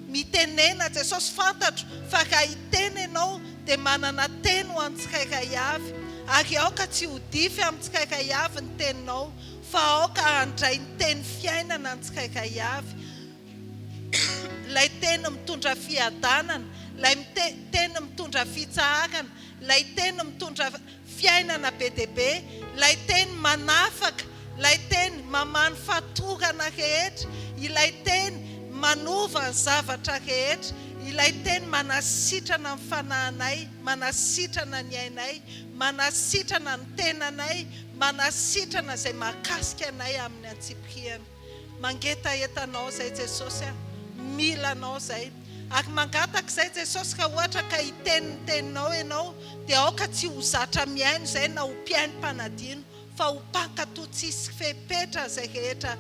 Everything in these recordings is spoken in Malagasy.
Mitenena Jesosy fantatro fa raha hiteny ianao dia manana teny ho an'tsirairay avy ary aoka tsy ho dify amin'tsirairay avy ny teninao fa aoka handray ny teny fiainana ny tsirairay avy ilay teny mitondra fiadanana ilay teny mitondra fitsaharana ilay teny mitondra Fiainana be dia be, ilay Teny manafaka, ilay Teny mamany fatorana rehetra, ilay Teny manova ny zavatra rehetra, ilay Teny manasitrana ny fanahinay, manasitrana ny ainay, manasitrana ny tenanay, manasitrana izay mahakasika anay amin'ny antsipirihany. Mangetaheta anao zay Jesosy a! Mila anao zay! Ary mangataka izay Jesosy raha ohatra ka hiteny ny teninao ianao dia aoka tsy ho zatra mihaino izay na ho mpihaino mpanadino fa ho mpankato tsisy fepetra izay rehetra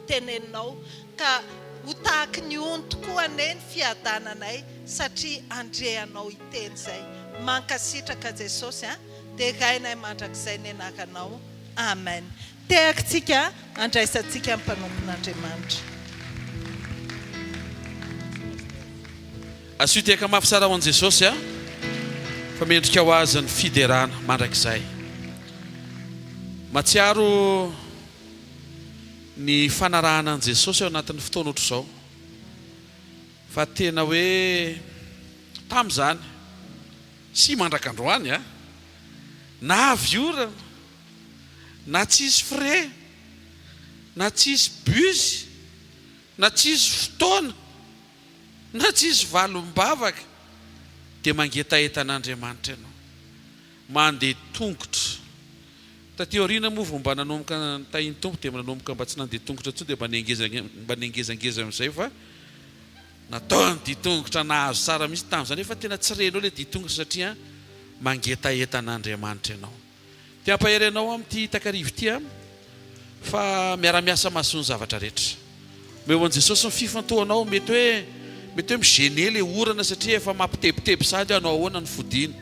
teneninao ka ho tahaky ny ony tokoa anie ny fiadananay satria andre anao hiteny izay! Mankasitraka Jesosy a! Derainay mandrakizay ny anaranao! Amen! Tehakintsika handraisantsika ny mpanompon'Andriamanitra. Asio tehaka mafy tsara ho an'i Jesosy a! Fa mendrika ho Azy ny fiderana mandrakizay. Mahatsiaro ny fanarahana an'i Jesosy ao anatin'ny fotoana ohatr'izao. Fa tena hoe tamin'izany sy mandrak'androany a! Na avy orana. na tsisy frais, na tsisy bus, na tsisy fotoana, na tsisy valim-bavaka dia mangetaheta an'Andriamanitra ianao. Mandeha tongotra. Taty aoriana moa vao mba nanomboka nitahin'ny Tompo dia nanomboka mba tsy nandeha tongotra intsony dia mba niangeza mba niangezangeza amin'izay fa natao ny dia tongotra nahazo tsara mihitsy tamin'izany nefa tena tsy renao ilay dia tongotra satria mangetaheta an'Andriamanitra ianao. Te hampahery anao aho amin'ity takariva ity an! Fa miara-miasa mahasoa ny zavatra rehetra. Omeo an'i Jesosy ny fifantohanao. Mety hoe, mety hoe mi-gêner ilay orana satria efa mampitebiteby sahady hoe hanao ahoana ny fodiany.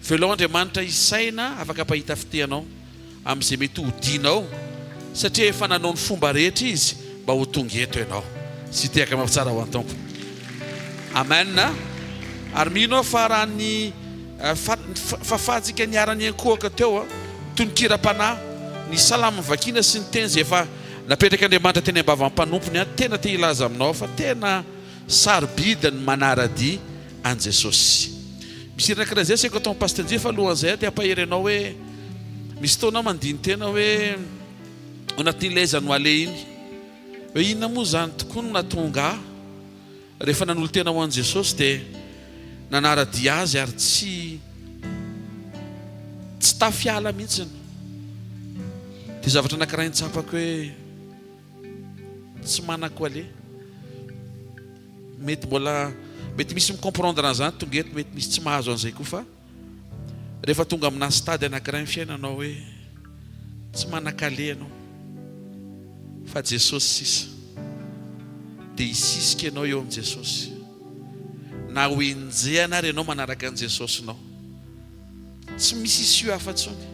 Velao Andriamanitra hisaina afaka hampahita fitia anao amin'izay mety hodianao satria efa nanao ny fomba rehetra Izy mba ho tonga eto ianao. Sitehaka mafy tsara ho an'ny Tompo. Amen! Ary mino aho fa raha ny. Fahafahantsika niharan'ny ankohoka teo, tononkira-panahy, ny salamo novakina sy ny teny izay efa napetrak'Andriamanitra teny am-bavan'ny mpanompony. Tena te hilaza aminao aho fa tena sarobidy ny manara-dia an'i Jesosy. Misy hira anankiray izay asaiko atao amin'i Pasteur Njy fa alohan'izay aho te hampahery anao hoe, misy fotoana aho mandini-tena hoe ao anatin'ilay aiza no haleha iny hoe inona moa izany tokoa no nahatonga ahy Rehefa nanolo-tena ho an'i Jesosy dia nanara-dia Azy ary tsy tsy tafiala mihitsiny. Ity zavatra anankiray nitsapako hoe tsy manako aller. Mety mbola mety misy mi-comprendre an'izany tonga eto, mety misy tsy mahazo an'izay koa fa. Rehefa tonga amina stade anankiray ny fiainanao hoe tsy manan-kaleha ianao fa Jesosy sisa dia hisisika ianao eo amin'i Jesosy na ho enjehina ary ianao manaraka an'i Jesosinao. Tsy misy issue hafa intsony.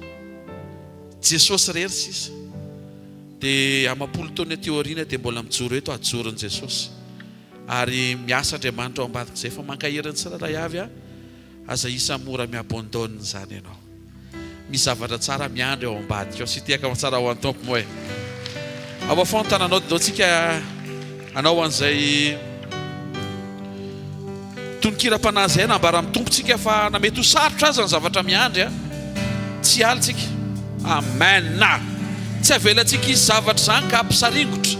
Jesosy irery sisa. Dia amam-polo taona aty aoriana dia mbola mijoro eto hajoron'i Jesosy. Ary miasa Andriamanitra ao ambadik'izay fa mankahery ny tsirairay avy aho. Aza isa mora mi-abandonne izany ianao. Misy zavatra tsara miandry ao ambadika ao. Sitehaka ao an-tsara ao an-Tompo moa e. Ao afoa ny tananao, dodoantsika anao ho an'izay tononkira-panahy izay nambara amin'ny Tompontsika fa na mety ho sarotra aza ny zavatra miandry a, tsy alintsika. Amen. Tsy avelantsika hisy zavatra izany ka hampisaringotra.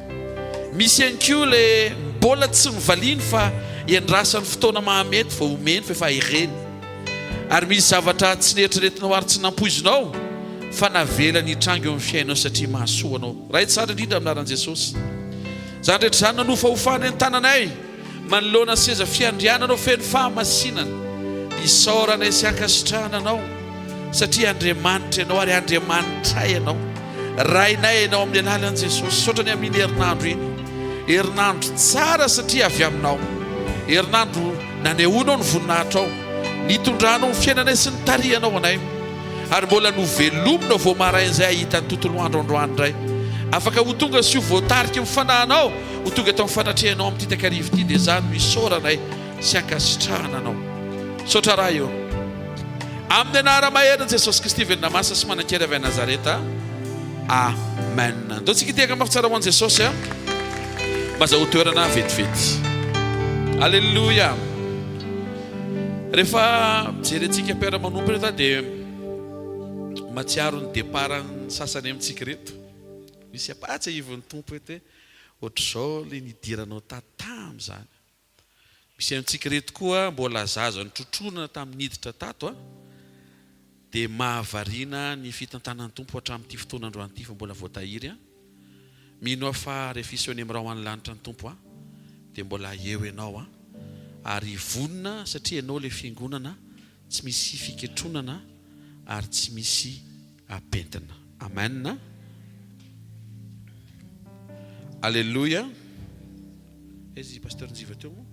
Misy ihany koa ilay mbola tsy novaliany fa iandrasany fotoana mahamety vao omeny fa efa ireny. Ary misy zavatra tsy neritreretinao ary tsy nampoizinao fa navelany hitranga eo amin'ny fiainao satria mahasoa anao. Raha hitsara indrindra amin'ny anaran'i Jesosy. Izany rehetra izany nanofahofana ny tananay. Manoloana ny seza fiandrianana ho feno fahamasinana, isaoranay sy ankasitrahana Anao, satria Andriamanitra Ianao ary Andriamanitray Ianao. Rainay Ianao amin'ny alalan'i Jesosy. Misaotra ny amin'iny herinandro iny. Herinandro tsara satria avy Aminao. Herinandro nanehoanao ny voninahitrao, nitondranao ny fiainanay sy nitarihanao anay. Ary mbola novelominao vao maraina izay hahita ny tontolo andro androany indray. Afaka ho tonga sy ho voatariky ny Fanahinao. Ho tonga tao fanatrehanao amin'ity takariva ity dia izaho no isaoranay sy ankasitrahana anao. Misaotra raha eo. Amin'ny anara maherin'i Jesosy Kristy velona masina sy manan-kery avy any Nazareta. Amen. Ndao tsika hitehaka mafy tsara ho an'i Jesosy a. Maza ho toerana vetivety. Alléluia. Rehefa jerentsika mpiara-manompo reto dia matsiaro ny départ sasany amintsika reto. Misy apatsy ivon'ny Tompo eto hoe Ohatr'izao le nidiranao tatam izany. Misy amintsika ireto koa mbola zaza notrotroina tamin'ny niditra tato a! Dia mahavariana ny fitantanan'ny Tompo hatramin'ity fotoana androany ity fa mbola voatahiry a! Mino aho fa rehefa hiseho any amin'ny rahona any lanitra ny Tompo a! Dia mbola eo ianao a! Ary vonona satria ianao ilay fiangonana Tsy misy fiketronana ary tsy misy apentina. Amen. Aleloia. Aiza i Pasteur Njiva teo moa?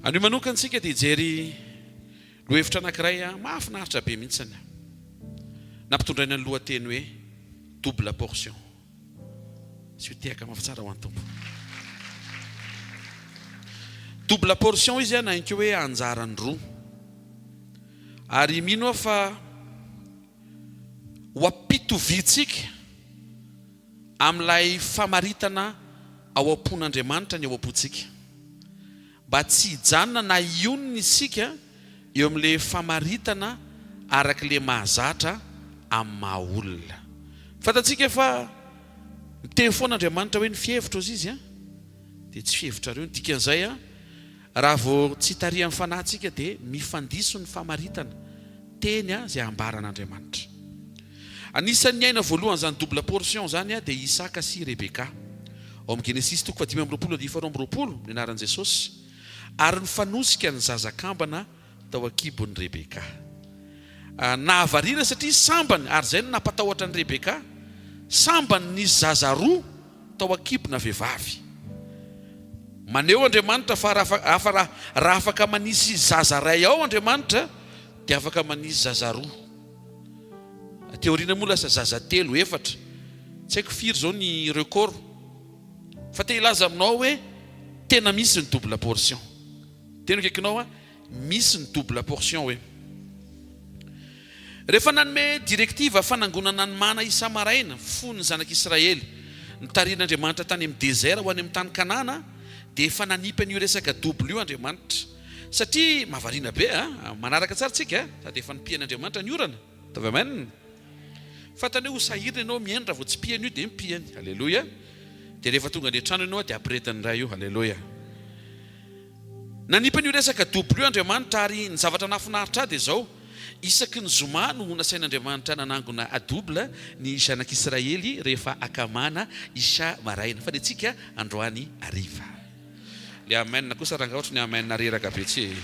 Anio manokantsika dia hijery Lohahevitra anankiray mahafinaritra be mihitsiny nampitondraina ny lohateny hoe Double portion. Tsy ho tehaka mafy tsara ho an'ny Tompo. Double portion izy na inkeo hoe anjarany roa. Ary mino aho fa ho am-pitoviantsika amin'ilay famaritana ao am-pon'Andriamanitra ny ao am-pontsika. mba tsy hijanona na hionona isika eo amin'ilay famaritana araka ilay mahazatra amin'ny maha olona. Fantatsika fa miteny foana Andriamanitra hoe ny fihevitro hozy Izy dia tsy fihevitrareo. Ny dikan'izay, raha vao tsy hitarihan'ny fanahy tsika dia mifandiso ny famaritana teny izay ambaran'Andriamanitra. Anisan'ny niaina voalohany izany double portion izany dia i Isaka sy i Rebeka. Ao amin'ny Genesisy toko fahadimy amby roapolo andihy faharoa amby roapolo ny anaran'i Jesosy, ary nifanosika ny zaza kambana tao an-kibon'i Rebeka. Nahavariana satria sambany, ary izay no nampatahotra an'i Rebeka, sambany nisy zaza roa tao an-kibona vehivavy. Maneho Andriamanitra fa raha afaka manisy zaza iray ao Andriamanitra, dia afaka manisy zaza roa. Aty aoriana moa lasa zaza telo, efatra, tsy haiko firy izao ny record. Fa te hilaza aminao hoe tena misy ny double portion. Teny akaikinao an, misy ny double portion hoe. Rehefa nanome directive fanangonana ny mana isa-maraina fon'ny zanak'Israely nitarihin'Andriamanitra tany amin'ny désert ho any amin'ny tany Kanana dia efa nanipy an'io resaka double io Andriamanitra. Satria mahavariana be a! Manaraka tsara tsika a! Sady efa nipihany Andriamanitra ny orana. Ataovy Amen. Fantany hoe ho sahirana ianao mihaino raha vao tsy pihany io dia mipihany. Aleloia. Dia rehefa tonga any an-trano ianao dia ampirehetan'ny Ray io. Aleloia. Nanipy an'io resaka double io Andriamanitra ary ny zavatra nahafinaritra ahy dia izao, isaky ny zoma no nasain'Andriamanitra nanangona a double ny zanak'Israely rehefa akamana isa maraina fa ny antsika androany hariva. Le amen kosa rangah ohatry ny amen reraka be tsy ee.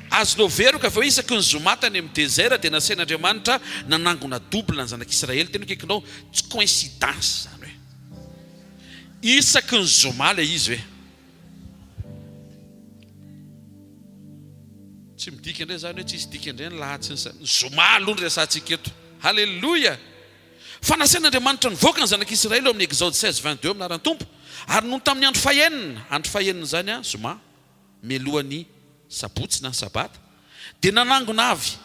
Azonao veroka ve hoe isaky ny zoma tany amin'ny desert dia nasain'Andriamanitra nanangona double ny zanak'Israely teny akaikinao? Tsy coïncidence izany hoe isaky ny zoma ilay izy ve? Tsy midika indray izany hoe tsisy dikany indray ny lahatsiny sa ny zoma aloha no resahantsika eto. Haleloia! Fa nasain'Andriamanitra nivoaka ny Zanak'i Isiraely ao amin'ny Exode seize vingt deux amin'ny anaran'ny Tompo, ary nony tamin'ny andro fahenina, andro fahenin'izany, zoma, mialohan'ny Sabotsy na Sabata, dia nanangona avy,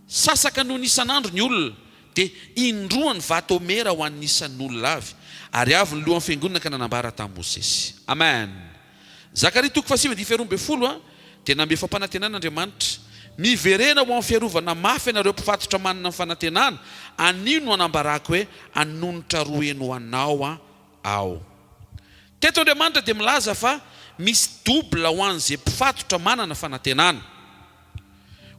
sasaka noho ny isan'andro, ny olona, dia indroa ny vato homera ho an'ny isan'olona avy, ary avy ny lohan'ny fiangonana ka nanambara tamin'i Mosesy. Amen. Zakaria toko fahasivy andininy faharoa ambin'ny folo dia nanome fampanantenana Andriamanitra, Miverena ho amin'ny fiarovana mafy ianareo mpifatotra manana ny fanantenana, anio no anambarako hoe hanonitra roa heny ho anao Aho. Teto Andriamanitra dia milaza fa misy double ho an'izay mpifatotra manana fanantenana.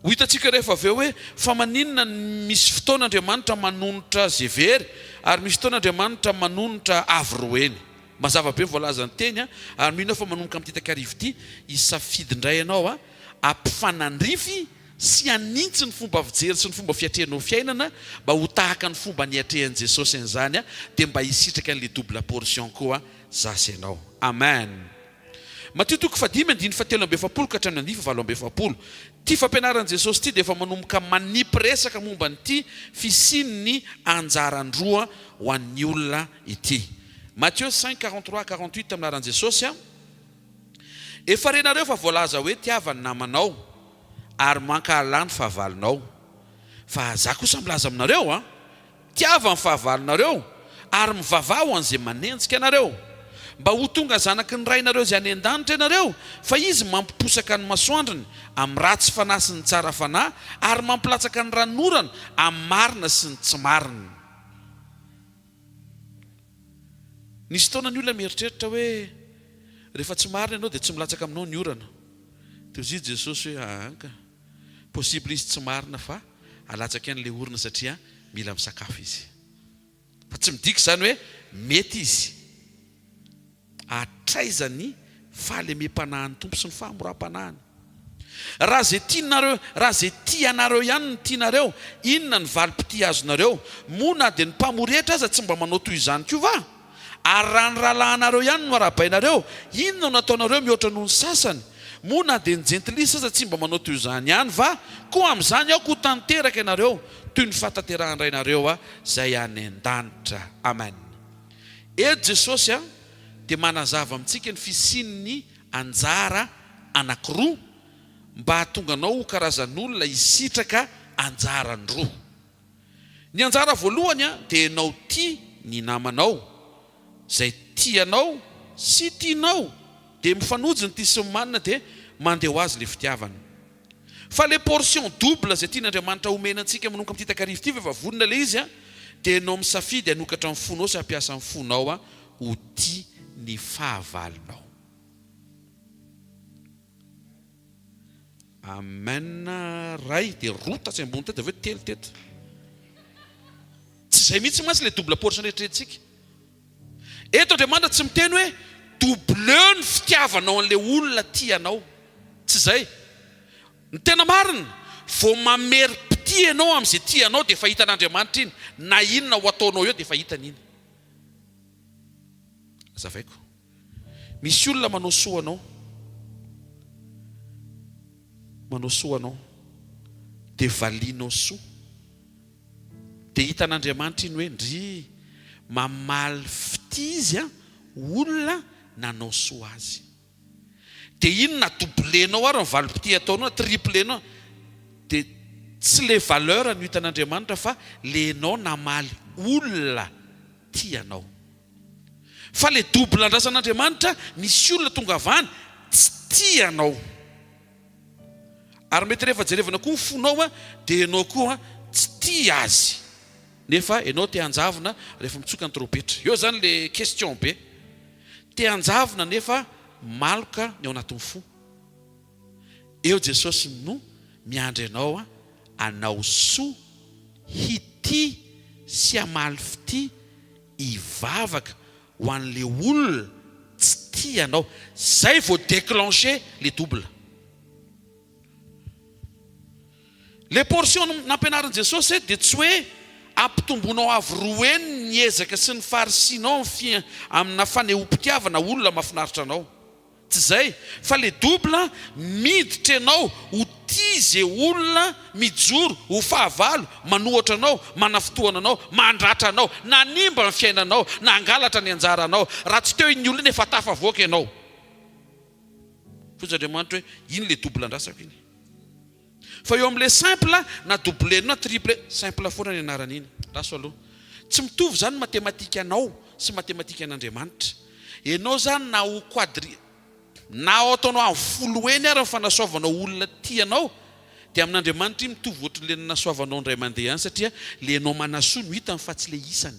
Ho hitantsika rehefa avy eo hoe fa maninona ny misy fotoana Andriamanitra manonitra ze very ary misy fotoana Andriamanitra manonitra avy roeny. Mazava be ny voalazan'ny teny a! ary mino aho fa manomboka amin'ity takariva ity hisafidy indray ianao a! ampifanandrify sy hanintsy ny fomba fijery sy ny fomba fiatrehanao fiainana mba ho tahaka ny fomba niatrehan'i Jesosy an'izany a! dia mba hisitraka an'le double portion koa za sy ianao. Amen! Matio toko fahadimy andininy fahatelo amby efapolo ka hatramin'ny andiy fahavalo amby efapolo. Ity fampianaran'i Jesosy ity dia efa manomboka manipy resaka momba an'ity fisian'ny anjaran-droa ho an'ny olona ity. Matthieu cinq, quarante trois à quarante huit Milaharan'i Jesosy, Efa renareo fa voalaza hoe tiava ny namanao ary mankahala ny fahavalonao. Fa Zah kosa milaza aminareo, Tiava ny fahavalonareo, ary mivavaha ho an'izay manenjika anareo. Mba ho tonga zanaky ny Rainareo izay any an-danitra ianareo, fa Izy mampiposaka ny masoandrony amin'ny ratsy fanahy sy ny tsara fanahy, ary mampilatsaka ny ranon'orana amin'ny marina sy ny tsy marina. Nisy fotoana ny olona mieritreritra hoe, Rehefa tsy marina ianao, dia tsy milatsaka aminao ny orana. Teo izy i Jesosy hoe, Ahanka. possible izy tsy marina fa alatsaka any le orona satria mila misakafo izy fa tsy midika izany hoe mety izy hatraiza ny fahalemem-panahin'ny Tompo sy ny fahamoram-panahiny raha ze tianareo raha ze tia anareo ihany no tianareo inona ny valim-pitia azonareo moa na dia ny mpamory hetra aza tsy mba manao toy izany koa va Ary raha ny rahalahinareo ihany no arahabainareo, inona no nataonareo mihoatra noho ny sasany? Moa na dia ny jentilisa aza tsy mba manao toy izany ihany va? Koa amin'izany aoka ho tanteraka ianareo toy ny fahatanterahan-dRainareo izay any an-danitra. Amen. Eto Jesosy dia manazava amintsika ny fisian'ny anjara anankiroa mba hahatonga anao ho karazan'olona hisitraka anjarany roa. Ny anjara voalohany dia ianao tia ny namanao, izay tia anao sy tianao dia mifanojo ny tia sy ny manina dia mandeha ho azy ilay fitiavana. Fa ilay portion double izay tian'Andriamanitra homena antsika manomboka amin'ity takariva ity fa efa vonona ilay izy dia ianao misafidy hanokatra ny fonao sy hampiasa ny fonao ho tia ny fahavalonao. Amen ray dia roa tatsy ambony teo dia avy eo telo teto. Tsy izay mihitsy mantsy ilay double portion eritreretintsika. Eto Andriamanitra tsy miteny hoe doubleo ny fitiavanao an'ilay olona tia anao. Tsy izay. Ny tena marina, vao mamerim-pitia ianao amin'izay tia anao dia efa hitan'Andriamanitra iny. Na inona ho ataonao eo dia efa hitany iny. Azavaiko. Misy olona manao soa anao, manao soa anao, dia valianao soa. Dia hitan'Andriamanitra iny hoe, ndry, mamaly fitia Izy an, olona nanao soa Azy. Dia iny na doublenao ary ny valim-pitia ataonao, na triplenao, dia tsy le valeur no hitan'Andriamanitra fa le enao namaly olona tia anao. Fa le double andrasan'Andriamanitra misy olona tonga avy any tsy tia anao. Ary mety rehefa jerevana koa ny fonao dia ianao koa tsy tia azy nefa ianao te hanjavona rehefa mitsoka ny tropetra. Eo zany le question be. Te hanjavona nefa maloka ny ao anatin'ny fo. Eo Jesosy no miandry anao hanao soa, hitia sy hamaly fitia. hivavaka ho anle olona tsy tia anao zay vao declenche le double. Le portion nampianarin'i Jesosy dia tsy hoe ampitomboinao avo roa heny ny ezaka sy ny faharisinao amina fanehoam-pitiavana olona mafinaritra anao. Tsy zay fa le double miditra enao ho tia ze olona mijoro ho fahavalo manohatra anao manafintohana anao mandratra anao nanimba ny fiainanao nangalatra ny anjaranao raha tsy teo iny olona iny efa tafavoaka enao fonjy Andriamanitra hoe iny le double andrasako iny Fa eo amin'ilay simple na double na triple, simple foana ny anaran'iny. Raso aloha. Tsy mitovy izany ny matematikanao sy ny matematikan'Andriamanitra. Ianao izany na ho quadri, na ho ataonao amin'ny folo heny ary ny fanasoavanao olona tianao, dia amin'Andriamanitra iny mitovy ohatran'ilay nanasoavanao indray mandeha ihany satria ilay ianao manasoa no hitany fa tsy ilay isany.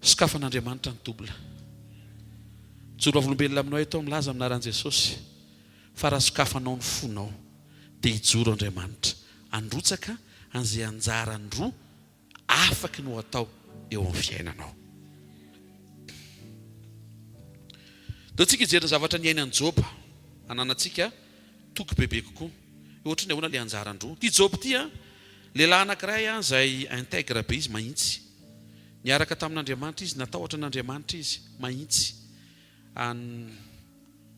Sokafan'Andriamanitra ny double. Mijoro vavolombelona aminao eto aho milaza amin'ny anaran'i Jesosy fa raha sokafanao ny fonao dia hijoro Andriamanitra handrotsaka an'izay anjarany roa afaky ny ho atao eo amin'ny fiainanao. Dia tsika hijery ny zavatra niainan'i Joba hananantsika Toky bebe kokoa. Ohatriny ahoana le anjara ndroa ty joby ty an! Lehilahy anakiray an zay integre be izy mahintsy. Niaraka tamin'Andriamanitra izy, natahotra an'Andriamanitra izy mahintsy. An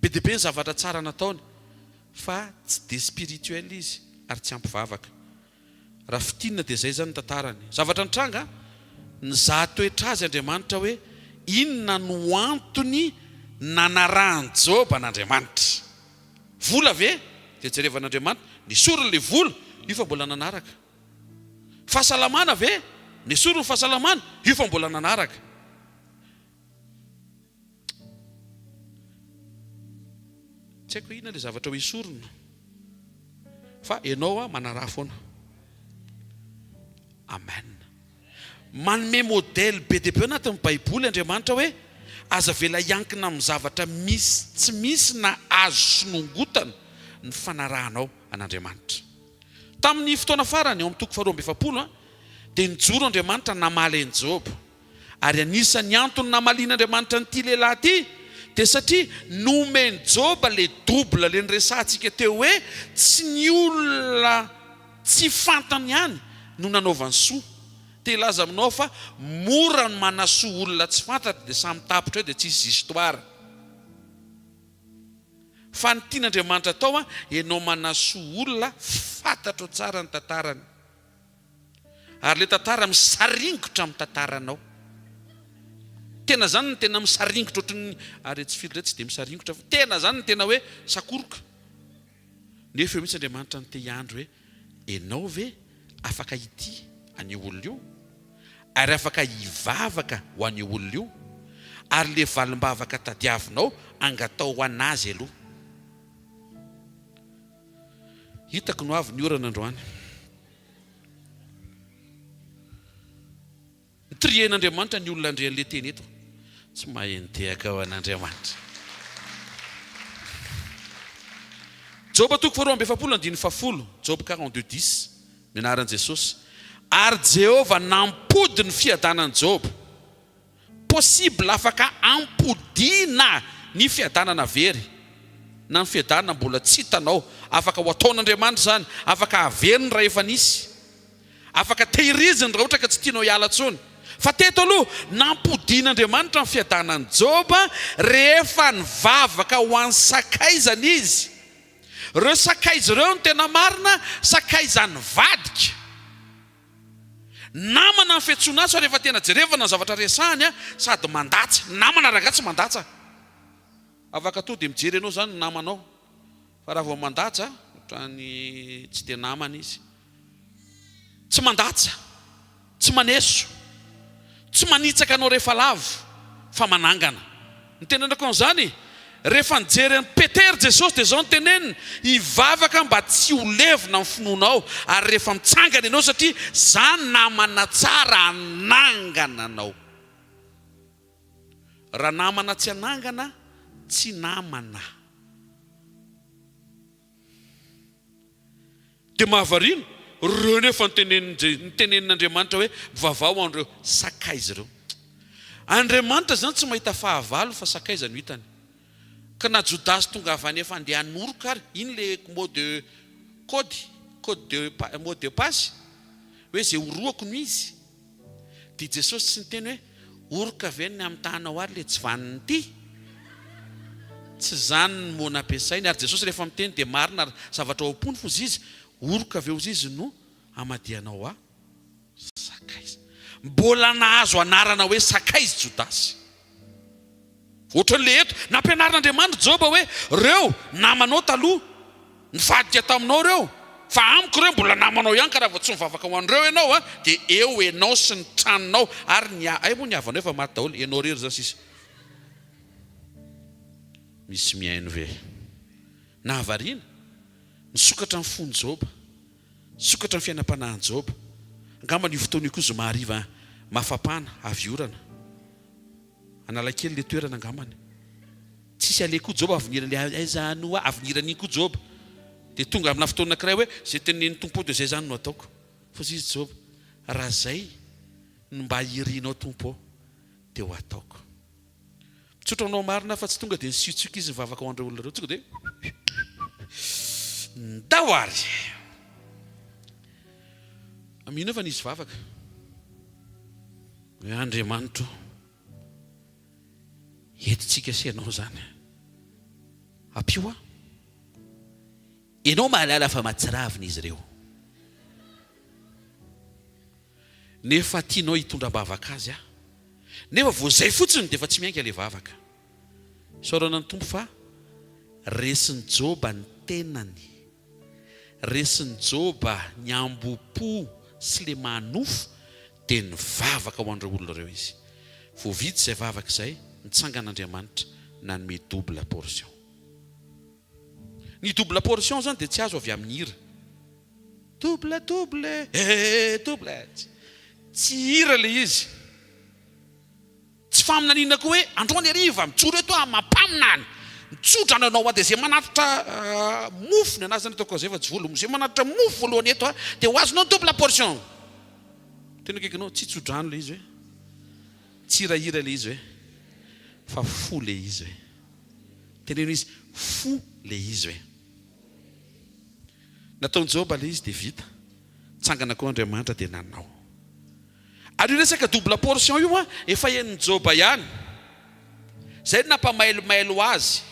be dia be ny zavatra tsara nataony fa tsy de spirituel izy ary tsy ampy vavaka. Raha fintinina dia izay izany ny tantarany. Zavatra nitranga, nizaha toetra azy Andriamanitra hoe inona no antony nanarahan'i Joba an'Andriamanitra. Vola ve? Dia jereva an'Andriamanitra, nesoriny ilay vola, io fa mbola nanaraka. Fahasalamana ve? Nesoriny ny fahasalamana, io fa mbola nanaraka. Tsy haiko hoe inona ilay zavatra ho esorina fa ianao a manaraha foana. Amen. Manome modèle be dia be ao anatin'ny baiboly Andriamanitra hoe aza avela hiankina amin'ny zavatra misy tsy misy na azo sinongotana ny fanarahanao an'Andriamanitra. Tamin'ny fotoana farany ao amin'ny toko faharoa amby efapolo dia nijoro Andriamanitra namaly an'i Joba. Ary anisan'ny antony namalian'Andriamanitra an'ity lehilahy ity dia satria nomen'i Joba ilay double ilay niresahantsika teo hoe tsy ny olona tsy fantany ihany no nanaovany soa. Te hilaza aminao aho fa mora ny manasoa olona tsy fantatra dia samy tapitra eo dia tsy hisy histoire. Fa ny tian'Andriamanitra atao ianao manasoa olona fantatrao tsara ny tantarany. Ary le tantara misaringotra am tantaranao. Tena zany no tena misaringotra ohatry ny ary etsy firy re tsy dia misaringotra fa tena zany no tena hoe sakoroka. Nefa eo mihitsy Andriamanitra no te hiandry hoe enao ve afaka hitia an'io olona io? Ary afaka hivavaka ho an'io olona io? Ary le valimbavaka tadiavinao angataho ho an'azy aloha. Hitako no avy ny orana androany. Trier n'Andriamanitra ny olona ndry anle teny eto tsy mahay nitehaka ho an'Andriamanitra. Joba toko faharoa amby efapolo andininy fahafolo, Job quarante deux dix, ny anaran'i Jesosy, ary Jehovah nampody ny fiadanan'i Joba. Possible afaka ampodiana ny fiadanana very na ny fiadanana mbola tsy hitanao, afaka ho ataon'Andriamanitra izany, afaka averiny raha efa nisy, afaka tehiriziny raha ohatra ka tsy tianao hiala intsony. Fa teto aloha nampodian'Andriamanitra ny fiadanan'i Joba rehefa nivavaka ho an'ny sakaizany izy. Ireo sakaiza ireo no tena marina, sakaizan'ivadika. Namana ny fiantsoana azy fa rehefa tena jerevana ny zavatra resahany a sady mandatsa. Ny namana rangahy tsy mandatsa. Afaka tonga dia mijery anao izany ny namanao fa raha vao mandatsa ohatran'ny tsy dia namana izy. Tsy mandatsa, tsy maneso, tsy manitsaka anao rehefa lavo fa manangana. Nitenenako an'izany. Rehefa nijery an'i Petera Jesosy dia izao no teneniny, Hivavaka mba tsy ho levona ny finoanao, ary rehefa mitsangana ianao satria izaho ny namana tsara hanangana anao. Raha namana tsy hanangana, tsy namana. Dia mahavariana, ireo nefa nitenenin'Andriamanitra hoe, Mivavaha ho an'ireo sakaiza ireo. Andriamanitra izany tsy mahita fahavalo fa sakaiza no hitany. Ka na Jodasy tongavany efa andeha hanoroka ary, iny ilay mot de code, code de mot de passe, hoe izay horohako no izy. Dia Jesosy tsy niteny hoe, Oroka ve ny amitahanao ary le tsy vanona ity? Tsy izany ny mots nampiasainy. Ary Jesosy rehefa miteny dia marina ary zavatra ao am-pony foza izy, Oroka ve ozy izy no hamadihanao ahy? Sakaiza. Mbola nahazo anarana hoe sakaiza i Jodasy. Ohatran'ilay eto. Nampianarin'Andriamanitra Joba hoe, Ireo namanao taloha, nivadika taminao ireo, fa amiko ireo mbola namanao ihany, ka raha vao tsy mivavaka ho an'ireo ianao, dia eo ianao sy ny tranonao ary ny hay moa ny havanao efa maty daholo, ianao irery izany sisa. Misy mihaino ve? Nahavariana? Nisokatra ny fon'i Joba. Sokatra ny fiainam-panahin'i Joba. Angamba an'io fotoana io koa zoma hariva mafapana avy orana. Analakely ilay toerana angambany. Tsisy aleha koa Joba avinirany hoe aiza no ho avinirany iny koa Joba. Dia tonga amina fotoana anankiray hoe izay tenenin'ny Tompo aho dia izay izany no ataoko. Fa hoy izy Joba, raha izay no mba irinao Tompo ô, dia ho ataoko. Mitsotra anao marina fa tsy tonga dia nisiotsioka izy nivavaka ho an'ireo olona ireo. Tonga dia ndao ary. Amin'inona fa nisy vavaka? Hoe Andriamanitro, eto tsika sy ianao izany. Ampio aho. Ianao mahalala fa mahatsiravina izy ireo. nefa tianao hitondra-bavaka azy aho nefa vao izay fotsiny dia efa tsy miainga ilay vavaka. Isaorana ny Tompo fa resin'i Joba ny tenany, resin'i Joba ny hambom-po sy le maha nofo dia nivavaka ho an'ireo olona ireo izy. Vao vita izay vavaka izay, nitsangan'Andriamanitra nanome double portion. Ny double portion izany dia tsy azo avy amin'ny hira. Double double eh double eh. Tsy hira ilay izy. Tsy faminaniana koa hoe androany hariva mijoro eto aho mampaminany. Mitsodrano anao hoa dia zay manatitra mofo ny anazy zany ataoko zay fa tsy volom. Zay manatitra mofo voalohany eto a dia ho azonao double portion. Tena akaiky anao, tsy tsodrano ilay izy hoe? Tsy hirahira ilay izy hoe? Fa fo ilay izy hoe? Teneno izy, fo ilay izy hoe? Nataon'i Joba ilay izy dia vita. Nitsangana koa Andriamanitra dia nanao. Ary io resaka double portion io efa henon'i Joba ihany. Izay no nampamailomailo azy.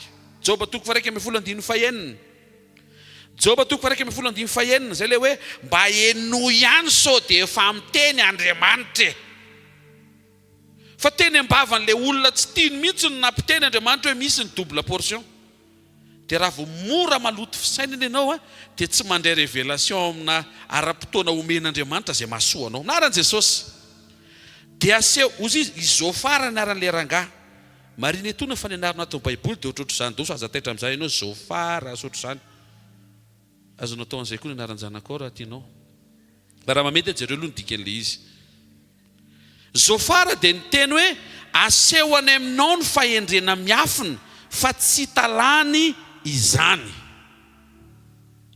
Joba toko faha-iraika ambin'ny folo andininy fahenina. Joba toko faha-iraika ambin'ny folo andininy fahenina. Izay ilay hoe, mba henoy ihany sao dia efa miteny Andriamanitra e! Fa teny ambavan'ilay olona tsy tiany mihitsy no nampiteny Andriamanitra hoe misy ny double portion. Dia raha vao mora maloto fisainana ianao dia tsy mandray révélation amina ara-potoana omen'Andriamanitra izay mahasoa anao. Na aran'i Jesosy. Dia aseho, hozy izy, izao fara ny anaran'ilay rangahy. Marina etoana fa ny anarana ato amin'ny baiboly dia ohatrohatr'izany doso aza taitra amin'izany ianao Zôfara asa ohatr'izany. Azonao atao an'izay koa ny anaran'ny zanakao raha tianao. Fa raha mahamety jereo aloha ny dikan'ilay izy. Zôfara dia niteny hoe, Aseho any aminao ny fahendrena miafina, fa tsy italàny izany.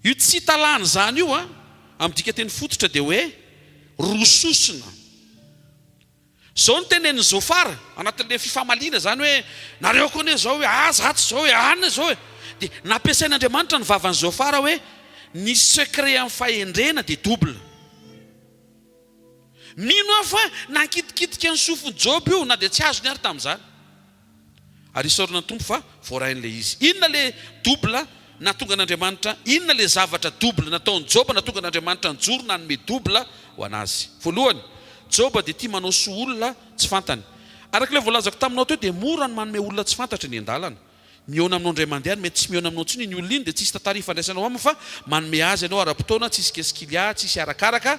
Io tsy italàny izany io, amin'ny dikanteny fototra, dia hoe roa sosona. Izao no tenenin'i Zôfara, anatin'ilay fifamaliana izany hoe, Nareo koa anie izao hoe, Ah, izaho tsy izao e! Anona izao e! Dia nampiasain'Andriamanitra ny vavan'i Zôfara hoe, Ny secret amin'ny fahendrena dia double. Mino aho fa nankitikitika ny sofin'i Joba io, na dia tsy azony àry tamin'izany. Ary isaorana ny Tompo fa voarain'ilay izy. Inona ilay double nahatonga an'Andriamanitra, inona ilay zavatra double nataon'i Joba nahatonga an'Andriamanitra nijoro nanome double ho an'azy? Voalohany, Joba dia tia manao soa olona tsy fantany. Araka ilay voalazako taminao teo, dia mora ny manome olona tsy fantatra eny an-dalana. Mihaona aminao indray mandeha, ary mety tsy mihaona aminao intsony iny olona iny, dia tsisy tantara ifandraisanao aminy fa manome azy anao ara-potoana, tsisy kesikilià, tsisy arakaraka.